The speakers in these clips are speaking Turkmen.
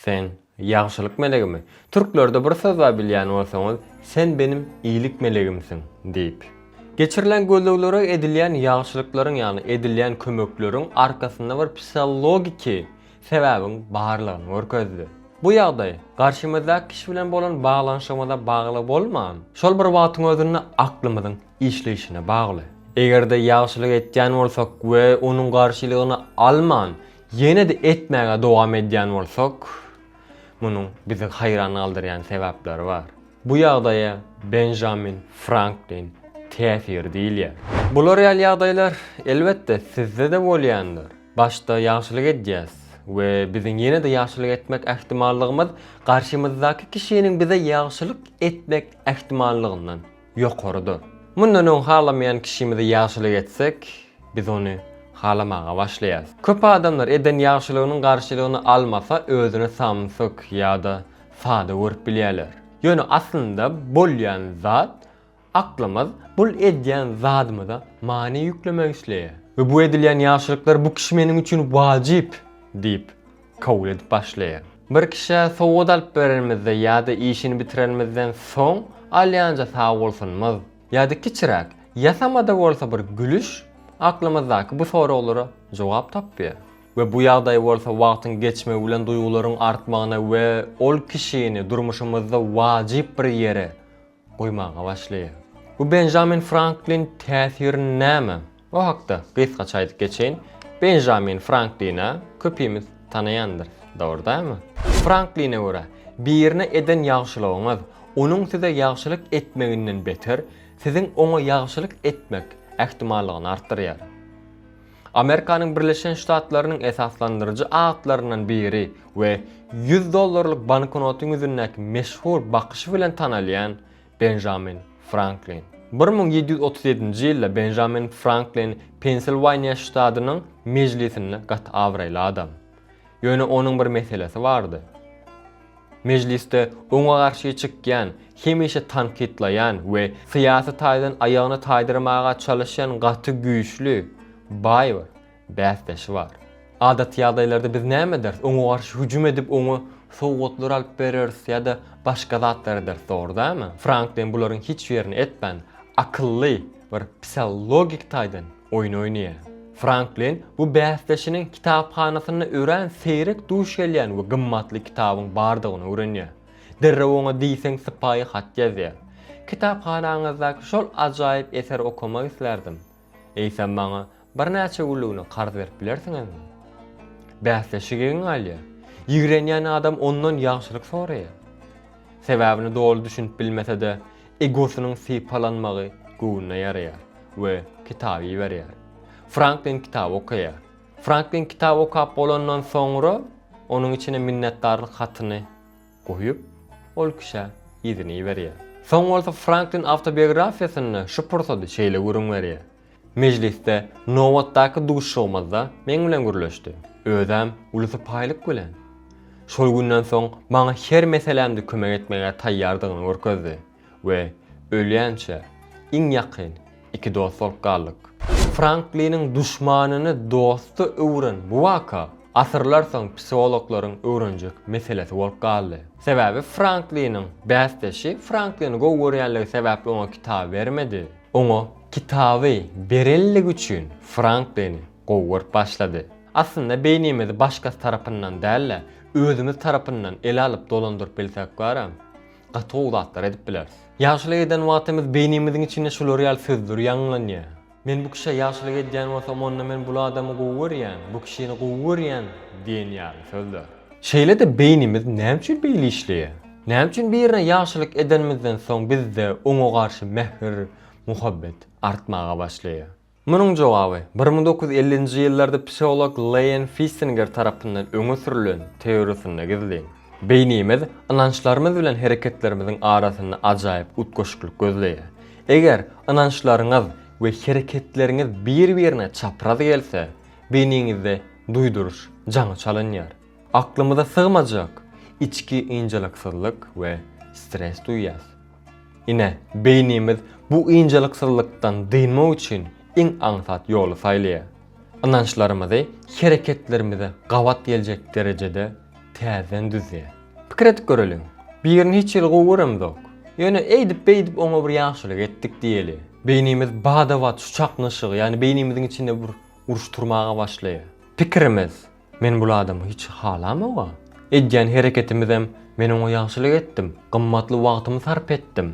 Sen, ýagşylyk melegimi? Türklerde bir söz bar bilýän bolsaňyz, Sen benim iýlik melegimsiň! diýip. Geçirilen gözleglere edilýän ýagşylyklaryň ýagny edilýän kömekleriň arkasynda bir psihologiki sebäbiň barlygyny görkezdi. Bu ýagdaý garşymyzdaky kişi bilen bolan baglanyşygymyza bagly bolman, şol bir wagtyň özünde aklymyzyň işleýşine bagly. Eger-de ýagşylyk etýän bolsak we onuň garşylygyny alman, Ýene-de etmäge dowam edýän bolsak, munuň bizi haýran galdyrýan sebäpleri bar. Bu ýagdaýa Benjamin Franklin täsiri diýilýär. Bular ýaly ýagdaýlar, elbetde, sizde-de bolýandyr. Başda ýagşylyk edýäs we biziň ýene-de ýagşylyk etmek ähtimallygymyz garşymyzdaky kişiniň bize ýagşylyk etmek ähtimallygyndan ýokarydyr. Mundan öň halamaýan kişimize ýagşylyk etsek, biz ony halamaga başlaýarys. Köp adamlar eden ýagşylygynyň garşylygyny almasa özüni samsyk ýa-da sada görüp bilýärler. Ýöne aslynda bolýan zat, aklymyz bul edýän zadymyza many ýüklemek isleýär we bu edilýän ýagşylyklar bu kişi meniň üçin wajyp diýip, kabul edip başlaýar. Bir kişä sowgat alyp berenimizde ýa-da işini bitirenimizden soň alýanja sagbolsunymyz ýa-da kiçiräk, ýasama-da bolsa bir gülüş aklymyzdaky bu soraglara jogap tapýar we bu ýagdaý bolsa wagtyň geçmegi bilen duýgularyň artmagyna we ol kişini durmuşymyzda wajyp bir ýere goýmaga başlaýar. Bu Benjamin Franklin täsiri näme? O hakda gysgaça aýdyp geçeýin. Benjamin Franklini köpimiz tanaýandyrys, dogry dälmi? Frankline görä, birine eden ýagşylygyňyz, onuň size ýagşylyk etmeginden beter, siziň oňa ýagşylyk etmek ähtimallygyny artdyrýar. Amerikanyň Birleşen Ştatlarynyň esaslandyryjy atlaryndan biri we ýüz dollarlyk banknotyň ýüzündäki meşhur bakyşy bilen tanalýan Benjamin Franklin. Bir müň ýedi ýüz otuz ýedinji ýylda Benjamin Franklin Pensilwaniýa ştadynyň Mejlisinde gaty abraýly adam. Ýöne onuň bir meselesi bardy. Mejlisde oňa garşy çykýan, hemişe tankytlaýan we syýasy taýdan aýagyny taýdyrmaga çalyşýan gaty güýçli, baý bir bäsdeşi bar. Adaty ýagdaýlarda biz näme ederis? Oňa garşy hüjüm edip, oňa sowgatlar alyp bereris ýa-da başga zatlar ederis, dogry dälmi? Franklin bularyň hiç birini etmän, akylly, bir psihologik taýdan Oýun oýnaýar. Franklin bu bäsdeşiniň kitaphanasynda örän seýrek duş gelýän we gymmatly kitabyň bardygyny öwrenýär. Derrew oňa diýseň sypaýy hat ýazýar. Kitaphanaňyzdaky şol ajaýyp eseri okamak islärdim. Eýsem maňa birnäçe günlügine karz berip bilersiňizmi? Bäsdeşi geň galýar. Ýigrenýän adam ondan ýagşylyk soraýar. Sebäbini doly düşünip bilmese-de, Egosynyň sypalanmagy göwnüne ýaraýar we kitaby iberýär. Franklin kitaby okaýar. Franklin kitaby okap bolandan soňra, onuň içine minnetdarlyk hatyny goýup, ol kişä yzyny iberýär. Soň bolsa Franklin awtobiografiýasynda şu pursady şeýle gürrüň berýär. Mejlisde nobatdaky duşuşygymyzda meň bilen gürleşdi. Özem uly sypaýylyk bilen. Şol günden soň maňa her meselämde kömek etmäge taýýardygyny görkezdi we ölýänçä iň ýakyn iki dost bolup galdyk. Frankliniň duşmanyny dosta öwren bu waka asyrlar soň psihologlaryň öwrenjek meselesi bolup galdy. Sebäbi Frankliniň bäsdeşi Franklini gowy görýänligi sebäpli oňa kitaby bermedi. Oňa kitaby berenligi üçin Franklini gowy görüp başlady. Aslynda beýnimizi başgasy tarapyndan däl-de, özümiz tarapyndan ele alyp dolandyryp bilsek bara, gaty gowy zatlar edip bileris. Ýagşylyk eden wagtymyz beýnimiziň içinde şular ýaly sözler ýaňlanýar, Men bu kişä ýagşylyk edýän bolsam, onda men bul adamy gowy görýän, bu kişini gowy görýän diýen ýaly sözler. Şeýle-de beýnimiz näme üçin beýle işleýär? Näme üçin birine ýagşylyk edenimizden soň bizde oňa garşy mähir, muhabbet artmaga başlaýar? Munuň jogaby, bir müň dokuz ýüz ellinji ýyllarda psiholog Leýen Fissinger tarapyndan öňe sürlen teoriýasynda gizlin. Beýnimiz ynançlarymyz bilen hereketlerimiziň arasynda ajaýyp utgaşyklyk gözleýär. Eger ynançlaryňyz we hereketleriňiz bir-birine çapraz gelse, beýniňizde duýduryş jaňy çalynýar. Aklymyza sygmajak içki ynjalyksyzlyk we stres duýýas. Ine, beýnimiz bu ynjalyksyzlykdan dynmak üçin iň aňsat ýoly saýlaýar. Ynançlarymyzy hereketlerimize gabat geljek derejede täzeden düzýär. Pikir edip göreliň, birini hiç hili gowy göremizok, ýöne eýdip-beýdip oňa bir ýagşylyk etdik diýeli. Beýnimiz bada-bat şu çaknyşygy, ýagny beýnimiziň içinde bir Uruşdyrmaga başlaýar. Pikirimiz, Men bul adamy hiç halamog-a. Edýän hereketimizem, Men oňa ýagşylyk etdim, gymmatly wagtymy sarp etdim,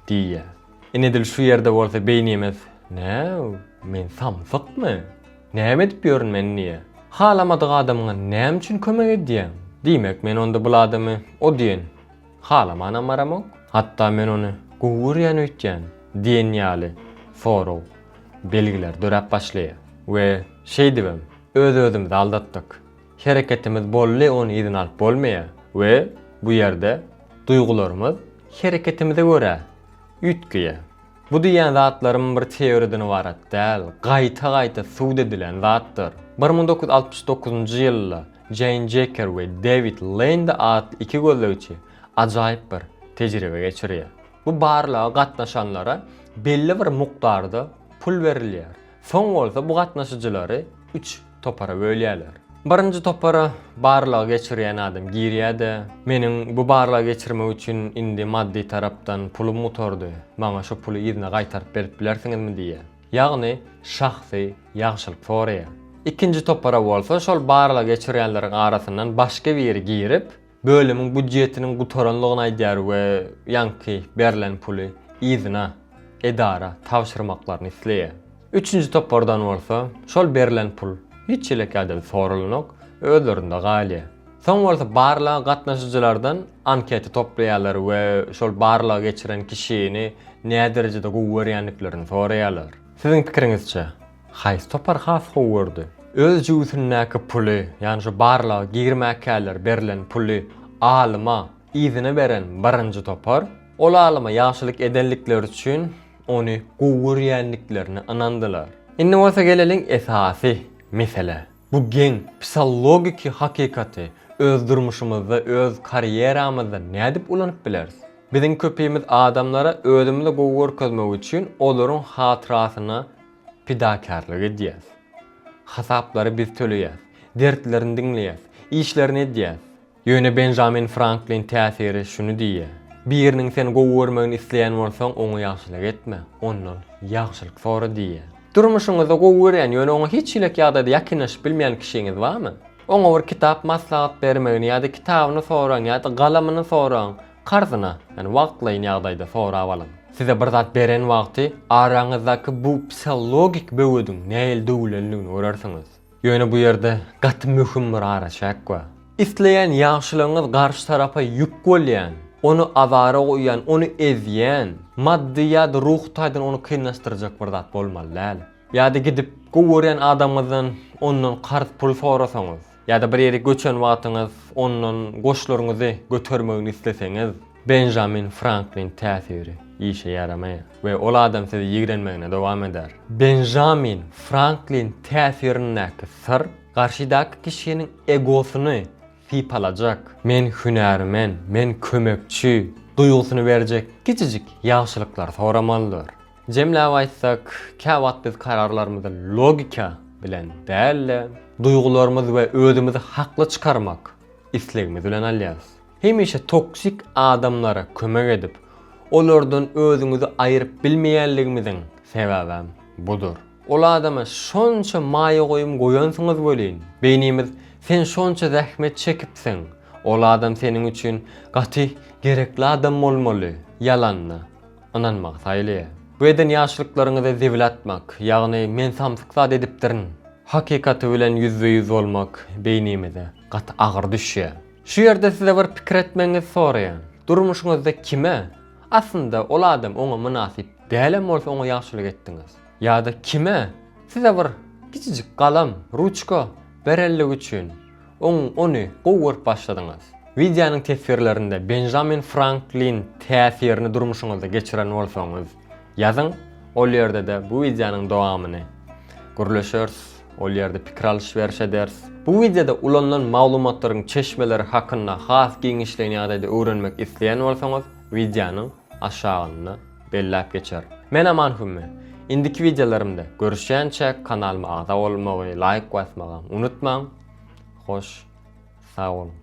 diýýär. Ine edil şu ýerde bolsa beýnimiz, Näw, men samsykmy? Näme edip ýörün men diýýär. Halamadyk adamyňa näme üçin kömek edýäň? Diýmek, men onda bul adamy o diýen. Halamanam baramok. Hatda men ony gowy görýän öýtýän diýen ýaly sorag belgiler döräp başlaýar. We şeýdibem öz-özümizi aldatdyk. Hereketimiz bolly ony yzyna alyp bolmaýar we bu ýerde duýgularymyz hereketimize görä üýtgeýär. Bu diýýän zatlarym bir teoriýadan ybarat däl, gaýta-gaýta subut edilen zatdyr. Bir müň dokuz ýüz altmyş dokuzynjy ýylda Jeýn Jeker we Dewid Lendi atly iki gözlegçi ajaýyp bir tejribe geçirýär. Bu barlaga gatnaşanlara belli bir mukdarda pul berilýär. Soň bolsa bu gatnaşyjylary üç topara bölýärler. Birinji topara barlagy geçirýän adam girýär-de, Meniň bu barlagy geçirmek üçin indi maddy tarapdan pulum gutardy, maňa şu puly yzyna gaýtaryp berip bilersiňizmi diýýär. Ýagny şahsy ýagşylyk soraýar. Ikinji topara bolsa şol barlagy geçirýänleriň arasyndan başga biri girip, bölümiň býudjetiniň gutaranlygyny aýdýar we ýaňky berlen puly yzyna edara tabşyrmaklaryny isleýär. Üçünji topardan bolsa şol berlen pul hiç ýelek ýadady soralanok, özlerinde galýar. Soň bolsa barlaga gatnaşyjylardan anketa toplaýarlar we şol barlagy geçiren kişini näderejede gowy görýändiklerini soraýarlar. Siziň pikiriňizçe, Haýsy topar has gowy gördi? Öz jübüsindäki puly, ýagny şu barlaga girmäkäler berlen puly alyma yzyna beren birinji topar. Ol alyma ýagşylyk edenlikleri üçin ony gowy görýändiklerine ynandylar. Indi bolsa geleliň esasy meselä. Bu geň psihologiki hakykaty öz durmuşymyzda, öz karýeramyzda nädip ulanyp bileris? Biziň köpimiz adamlara özümizi gowy görkezmek üçin olaryň hatyrasyna pidakärlik edýäris. Hasaplary biz töleýäris, dertlerini diňleýäris, işlerini edýäris. Ýöne Benjamin Franklin täsiri şuny diýýär, Biriniň seni gowy görmegini isleýän bolsaň, oňa ýagşylyk etme, ondan ýagşylyk sora diýýär. Durmuşyňyzda gowy görýän, ýöne oňa hiç hilek ýagdaýda ýakynlaşyp bilmeýän kişiňiz barmy? Oňa bir kitap maslahat bermegini ýa-da kitabyny soraň ýa-da galamyny soraň, karzyna, ýagny wagtlaýyn ýagdaýda sorap alyň. Size bir zat beren wagty araňyzdaky bu psihologik böwediň nähili döwülendigini görersiňiz. Ýöne bu ýerde gaty möhüm bir araçäk bar. Isleýän ýagşylygyňyz garşy tarapa ýük bolýan, ony azara goýýan, ony ezýän, maddy ýa-da ruhy taýdan ony kynlaşdyrjak bir zat bolmaly däl. Ýa-da gidip, gowy görýän adamyňyzdan ondan karz pul sorasaňyz, ýa-da bir ýere göçen wagtyňyz ondan goşlaryňyzy götermegini isleseňiz, Benjamin Franklin täsiri işe ýaramaýar we ol adam sizi ýigrenmegine dowam eder. Benjamin Franklin täsirindäki syr garşydaky kişiniň egosyny sypalajak, men hünärmen, men kömekçi duýgusyny berjek kiçijik ýagşylyklary soramalydyr. Jemläp aýtsak, käwagt biz kararlarymyzy logika bilen däl-de, duýgularymyz we özümizi hakly çykarmak islegimiz bilen alýarys. Hemişe toksik adamlara kömek edip, olardan özüňizi aýyryp bilmeýänligimiziň sebäbem budur. Ol adama şonça maýa goýum goýansyňyz welin, beýnimiz sen şonça zähmet çekipsiň, ol adam seniň üçin gaty gerekli adam bolmaly ýalanyna ynanmagy saýlaýar. Bu eden ýagşylyklaryňyza zibil atmak, ýagny men samsyk zat edipdirin hakykaty bilen ýüzbe-ýüz bolmak beýnimize gaty agyr düşýär. Şu ýerde size bir pikir etmegiňizi soraýan. Durmuşyňyzda kime, aslynda ol adam oňa mynasyp dälem bolsa oňa ýagşylyk etdiňiz? Ýa-da kime, size bir kiçijik galam, ruçka, berenligi üçin, oň ony gowy görüp başladyňyz? Wideonyň teswirlerinde Benjamin Franklin täsirini durmuşyňyzda geçiren bolsaňyz, Ýazyň ol ýerde-de bu wideonyň dowamyny. Gürleşeris, ol ýerde pikir alyş-beriş ederis. Bu wideoda ulanylan maglumatlaryň çeşmeleri hakynda has giňişleýin ýagdaýda öwrenmek isleýän bolsaňyz, wideonyň aşagynda belläp geçerin. Men Aman Hümme. Indiki wideolarymda görüşýänçä kanalyma agza bolmagy, laýk basmagam unutmaň. Hoş sag boluň.